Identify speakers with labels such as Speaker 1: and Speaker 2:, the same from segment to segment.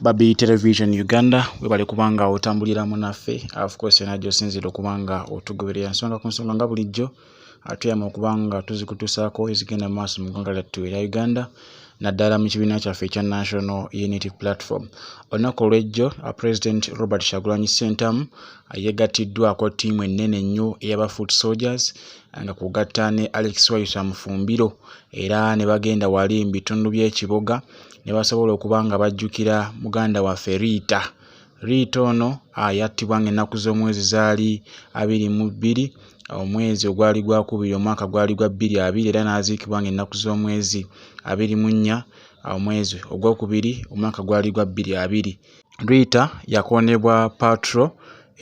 Speaker 1: Babi Television Uganda webale kubanga otambulira munaffe of course yona gyosinzira okubanga otugoberera nsonga ku nsonga nga bulijjo atuyama okubanga tuzikutusaako ezigenda maaso mu ggwanga lyattu erya Uganda naddala mu kibiina kyaffe ekya National Unity Platform olunaku olw'ejjo uh, President Robert Kyagulanyi Ssentamu uh, yegattiddwako ttiimu ennene ennyo eyaba Foot Soldiers uh, nga kugatta ne Alex Wayusa Mufumbiro era ne bagenda wali mu bitundu by'ekiboga ne basobola okuba nga bajjukira muganda waffe Riita. Riita ono yattibwa ng'ennaku z'omwezi zaali abiri mu bbiri omwezi ogwali gwakubiri omwaka gwali gwa bbiri abiri era n'aziikibwa ng'ennaku z'omwezi abiri mu nnya omwezi ogwokubiri omwaka gwali gwa bbiri abiri. Riita yakoonebwa patro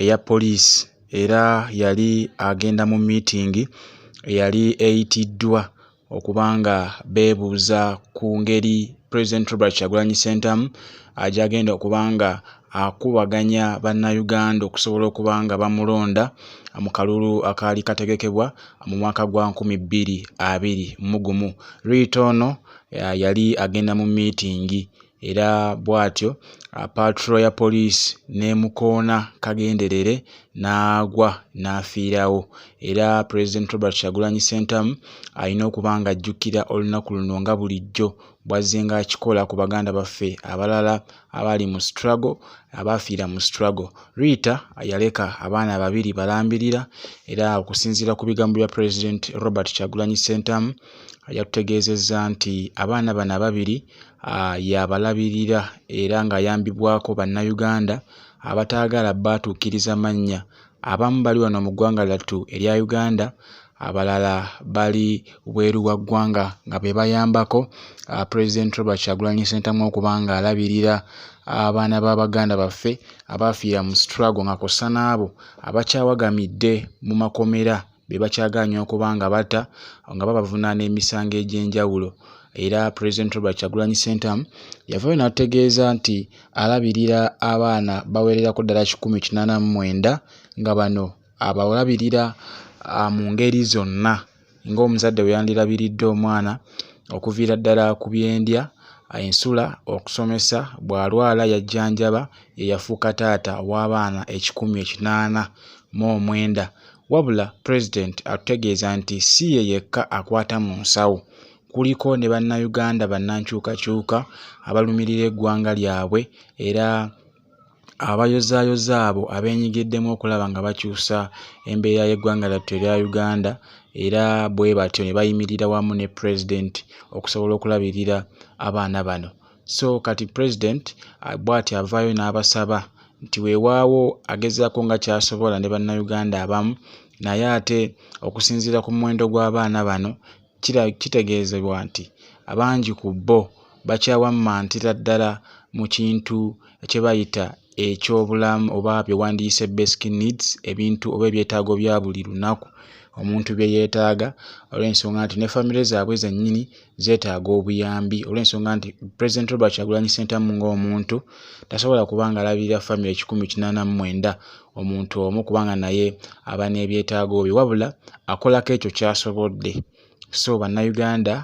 Speaker 1: eya poliisi era yali agenda mu miitingi eyali eyitiddwa okuba nga beebuuza ku ngeri president robert kyagulanyi sentamu agyagenda okuba nga akubaganya bannayuganda okusobola okuba nga bamulonda mu kalulu akaali kategekebwa mu mwaka gwa 220 mugumu riita ono yali agenda mu miitingi era bw'atyo paatulo ya poliisi n'emukoona kagenderere n'agwa n'afiirawo era pulezidenti robert kyagulanyi ssentamu alina okuba ng'ajjukira olunaku luno nga bulijjo bw'azzenga akikola ku baganda baffe abalala abaali mu struggle abaafiira mu struggle riita yaleka abaana babiri balambirira era okusinziira ku bigambo bya pulezidenti robert kyagulanyi ssentamu yatutegeezezza nti abaana bano ababiri uh, yabalabirira era ng'ayambibwako bannayuganda abataagala baatuukiriza mannya abamu bali wano mu ggwanga lyattu erya uganda abalala bali bweru wa ggwanga nga be bayambako uh, president robert kyagulanyi sentamu okuba ng'alabirira abaana ba baganda baffe abaafiira mu strago nga kw'ossa n'abo abakyawagamidde mu makomera be bakyagaanyi okuba nga bata nga babavunaana emisango egy'enjawulo era president robert kyagulanyi sentamu yavayo n'atutegeeza nti alabirira abaana bawererako ddala kikumi kinaana mu mwenda nga bano abalabirira ah, mu ngeri zonna ng'omuzadde bwe yandirabiridde omwana okuviira ddala ku byendya ensula okusomesa bw'alwala yajjanjaba ye yafuuka taata w'abaana ekikumi ekinaana mu omwenda Wabula Pulezidenti atutegeeza nti si ye yekka akwata mu nsawo kuliko ne Bannayuganda bannankyukakyuka abalumirira eggwanga lyabwe era abayozaayoza abo abeenyigiddemu okulaba nga bakyusa embeera y'eggwanga lyattu erya Uganda era bwe batyo ne bayimirira wamu ne Pulezidenti okusobola okulabirira abaana bano. so kati president ah, bwati avaayo n'abasaba nti weewaawo agezaako nga kyasobola ne bannayuganda abamu naye ate okusinziira ku muwendo gw'abaana bano kitegeezebwa nti abangi ku bo bakyawammantira ddala mu kintu kye bayita eky'obulamu oba bye wandiyise basic needs ebintu oba ebyetaago bya buli lunaku omuntu bye yeetaaga olw'ensonga nti ne famire zaabwe zennyini zeetaaga obuyambi olw'ensonga nti president robert kyagulanyi sentamu ng'omuntu tasobola kuba nga alabirira famire kikumi kinaana mu mwenda omuntu omu kubanga naye aba n'ebyetaago bye wabula akolako ekyo kyasobodde so bannayuganda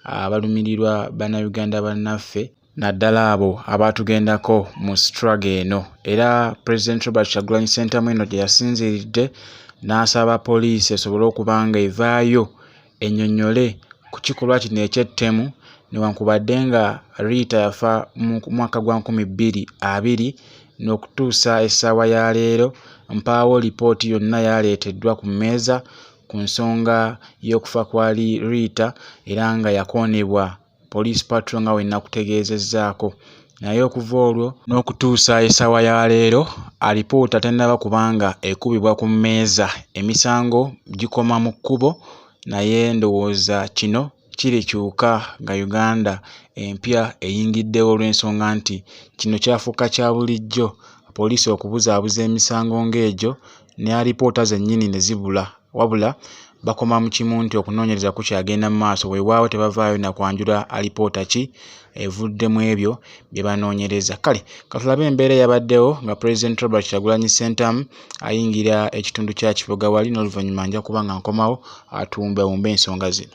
Speaker 1: abalumirirwa bannayuganda bannaffe naddala abo abaatugendako mu struggle eno era president robert kyagulanyi sentamu eno gye yasinziridde n'asaba poliisi esobole okuba nga evaayo enyonyole ku kikolwa kino ekyettemu newankubadde nga riita yafa mu mwaka gwa nkumi bbiri abiri n'okutuusa essaawa ya leero mpaawo lipooti yonna yaleeteddwa ku mmeeza ku nsonga y'okufa kwa riita era nga yakoonebwa Police Patrol nga bwe nakutegeezezzaako naye okuva olwo n'okutuusa essaawa ya leero alipoota tennaba kubanga ekubibwa ku mmeeza emisango gikoma mu kkubo naye ndowooza kino kirikyuka nga Uganda empya eyingiddewo olw'ensonga nti kino kyafuuka kya bulijjo poliisi okubuzaabuza emisango ng'egyo ne alipoota zennyini ne zibula wabula bakoma mu kimu nti okunoonyereza kukyagenda mu maaso weewaawo tebavaayo na kwanjula alipoota ki evudde mu ebyo bye banoonyereza kale katulabe embeera yabaddewo nga pulezidenti robert kyagulanyi sentamu ayingira ekitundu kya kiboga wali n'oluvannyuma nja kuba nga nkomawo atumbewumba ensonga zino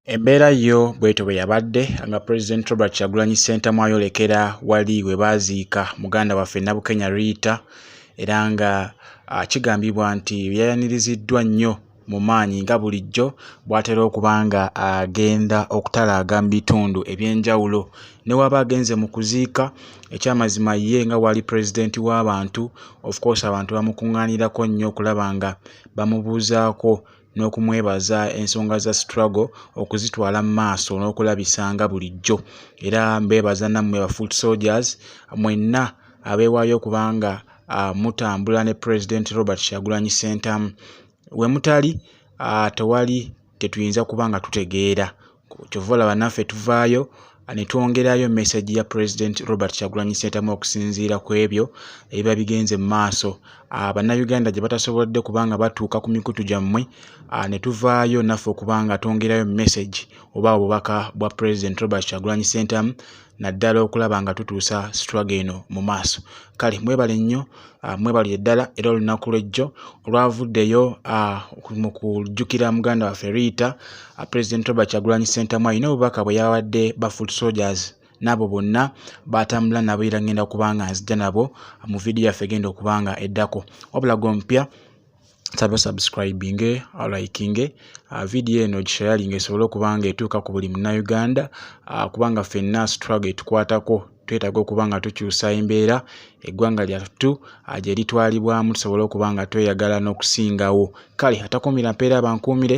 Speaker 2: Embeera yo bwetyo bwe yabadde nga Pulezidenti Robert Kyagulanyi Ssentamu ayolekera wali we baaziika muganda waffe Nabukenya Riita era nga ah, kigambibwa nti yayaniriziddwa nnyo mu maanyi nga bulijjo bw'atera okuba nga agenda okutalaaga mu bitundu eby'enjawulo ne waba agenze mu kuziika ekyamazima ye nga wali pulezidenti w'abantu of course abantu bamukuŋŋaanirako nnyo okulaba nga bamubuuzaako n'okumwebaza ensonga za struggle okuzitwala mu maaso n'okulabisa nga bulijjo era mbeebaza nammwe ba foot soldiers mwenna abeewaayo kubanga uh, mutambula ne president robert kyagulanyi sentamu we mutali uh, tewali tetuyinza kuba nga tutegeera kyova olaba naffe tuvaayo ne twongerayo message ya president robert kyagulanyi sentamu okusinziira ku ebyo ebiba bigenze mu maaso ah, bannayuganda gye batasobodde kubanga batuuka ku mikutu gyammwe ah, ne tuvaayo naffe okubanga twongerayo message oba obubaka bwa president robert kyagulanyi sentamu naddala okulaba nga tutuusa struggle eno mu maaso kale mwebale nnyo ah, mwebale eddala era olunaku lwejjo olwavuddeyo ah, mu kujjukira muganda waffe riita ah, president robert kyagulanyi sentamu alina obubaka bwe yawadde ba foot soldiers n'abo bonna baatambula nabo era ngenda kubanga nzija nabo mu vidiyo yaffe egenda okubanga eddako wabula gompya nsaba osubscribinge olikinge uh, vidiyo eno gishayalinga esobole okuba nga etuuka ku buli munauganda uh, kubanga fenna situlago etukwatako twetaaga okuba nga tukyusa embeera eggwanga lyattu uh, gye litwalibwamu tusobole okuba nga tweyagala n'okusingawo kale atakuumira mpeera abankuumire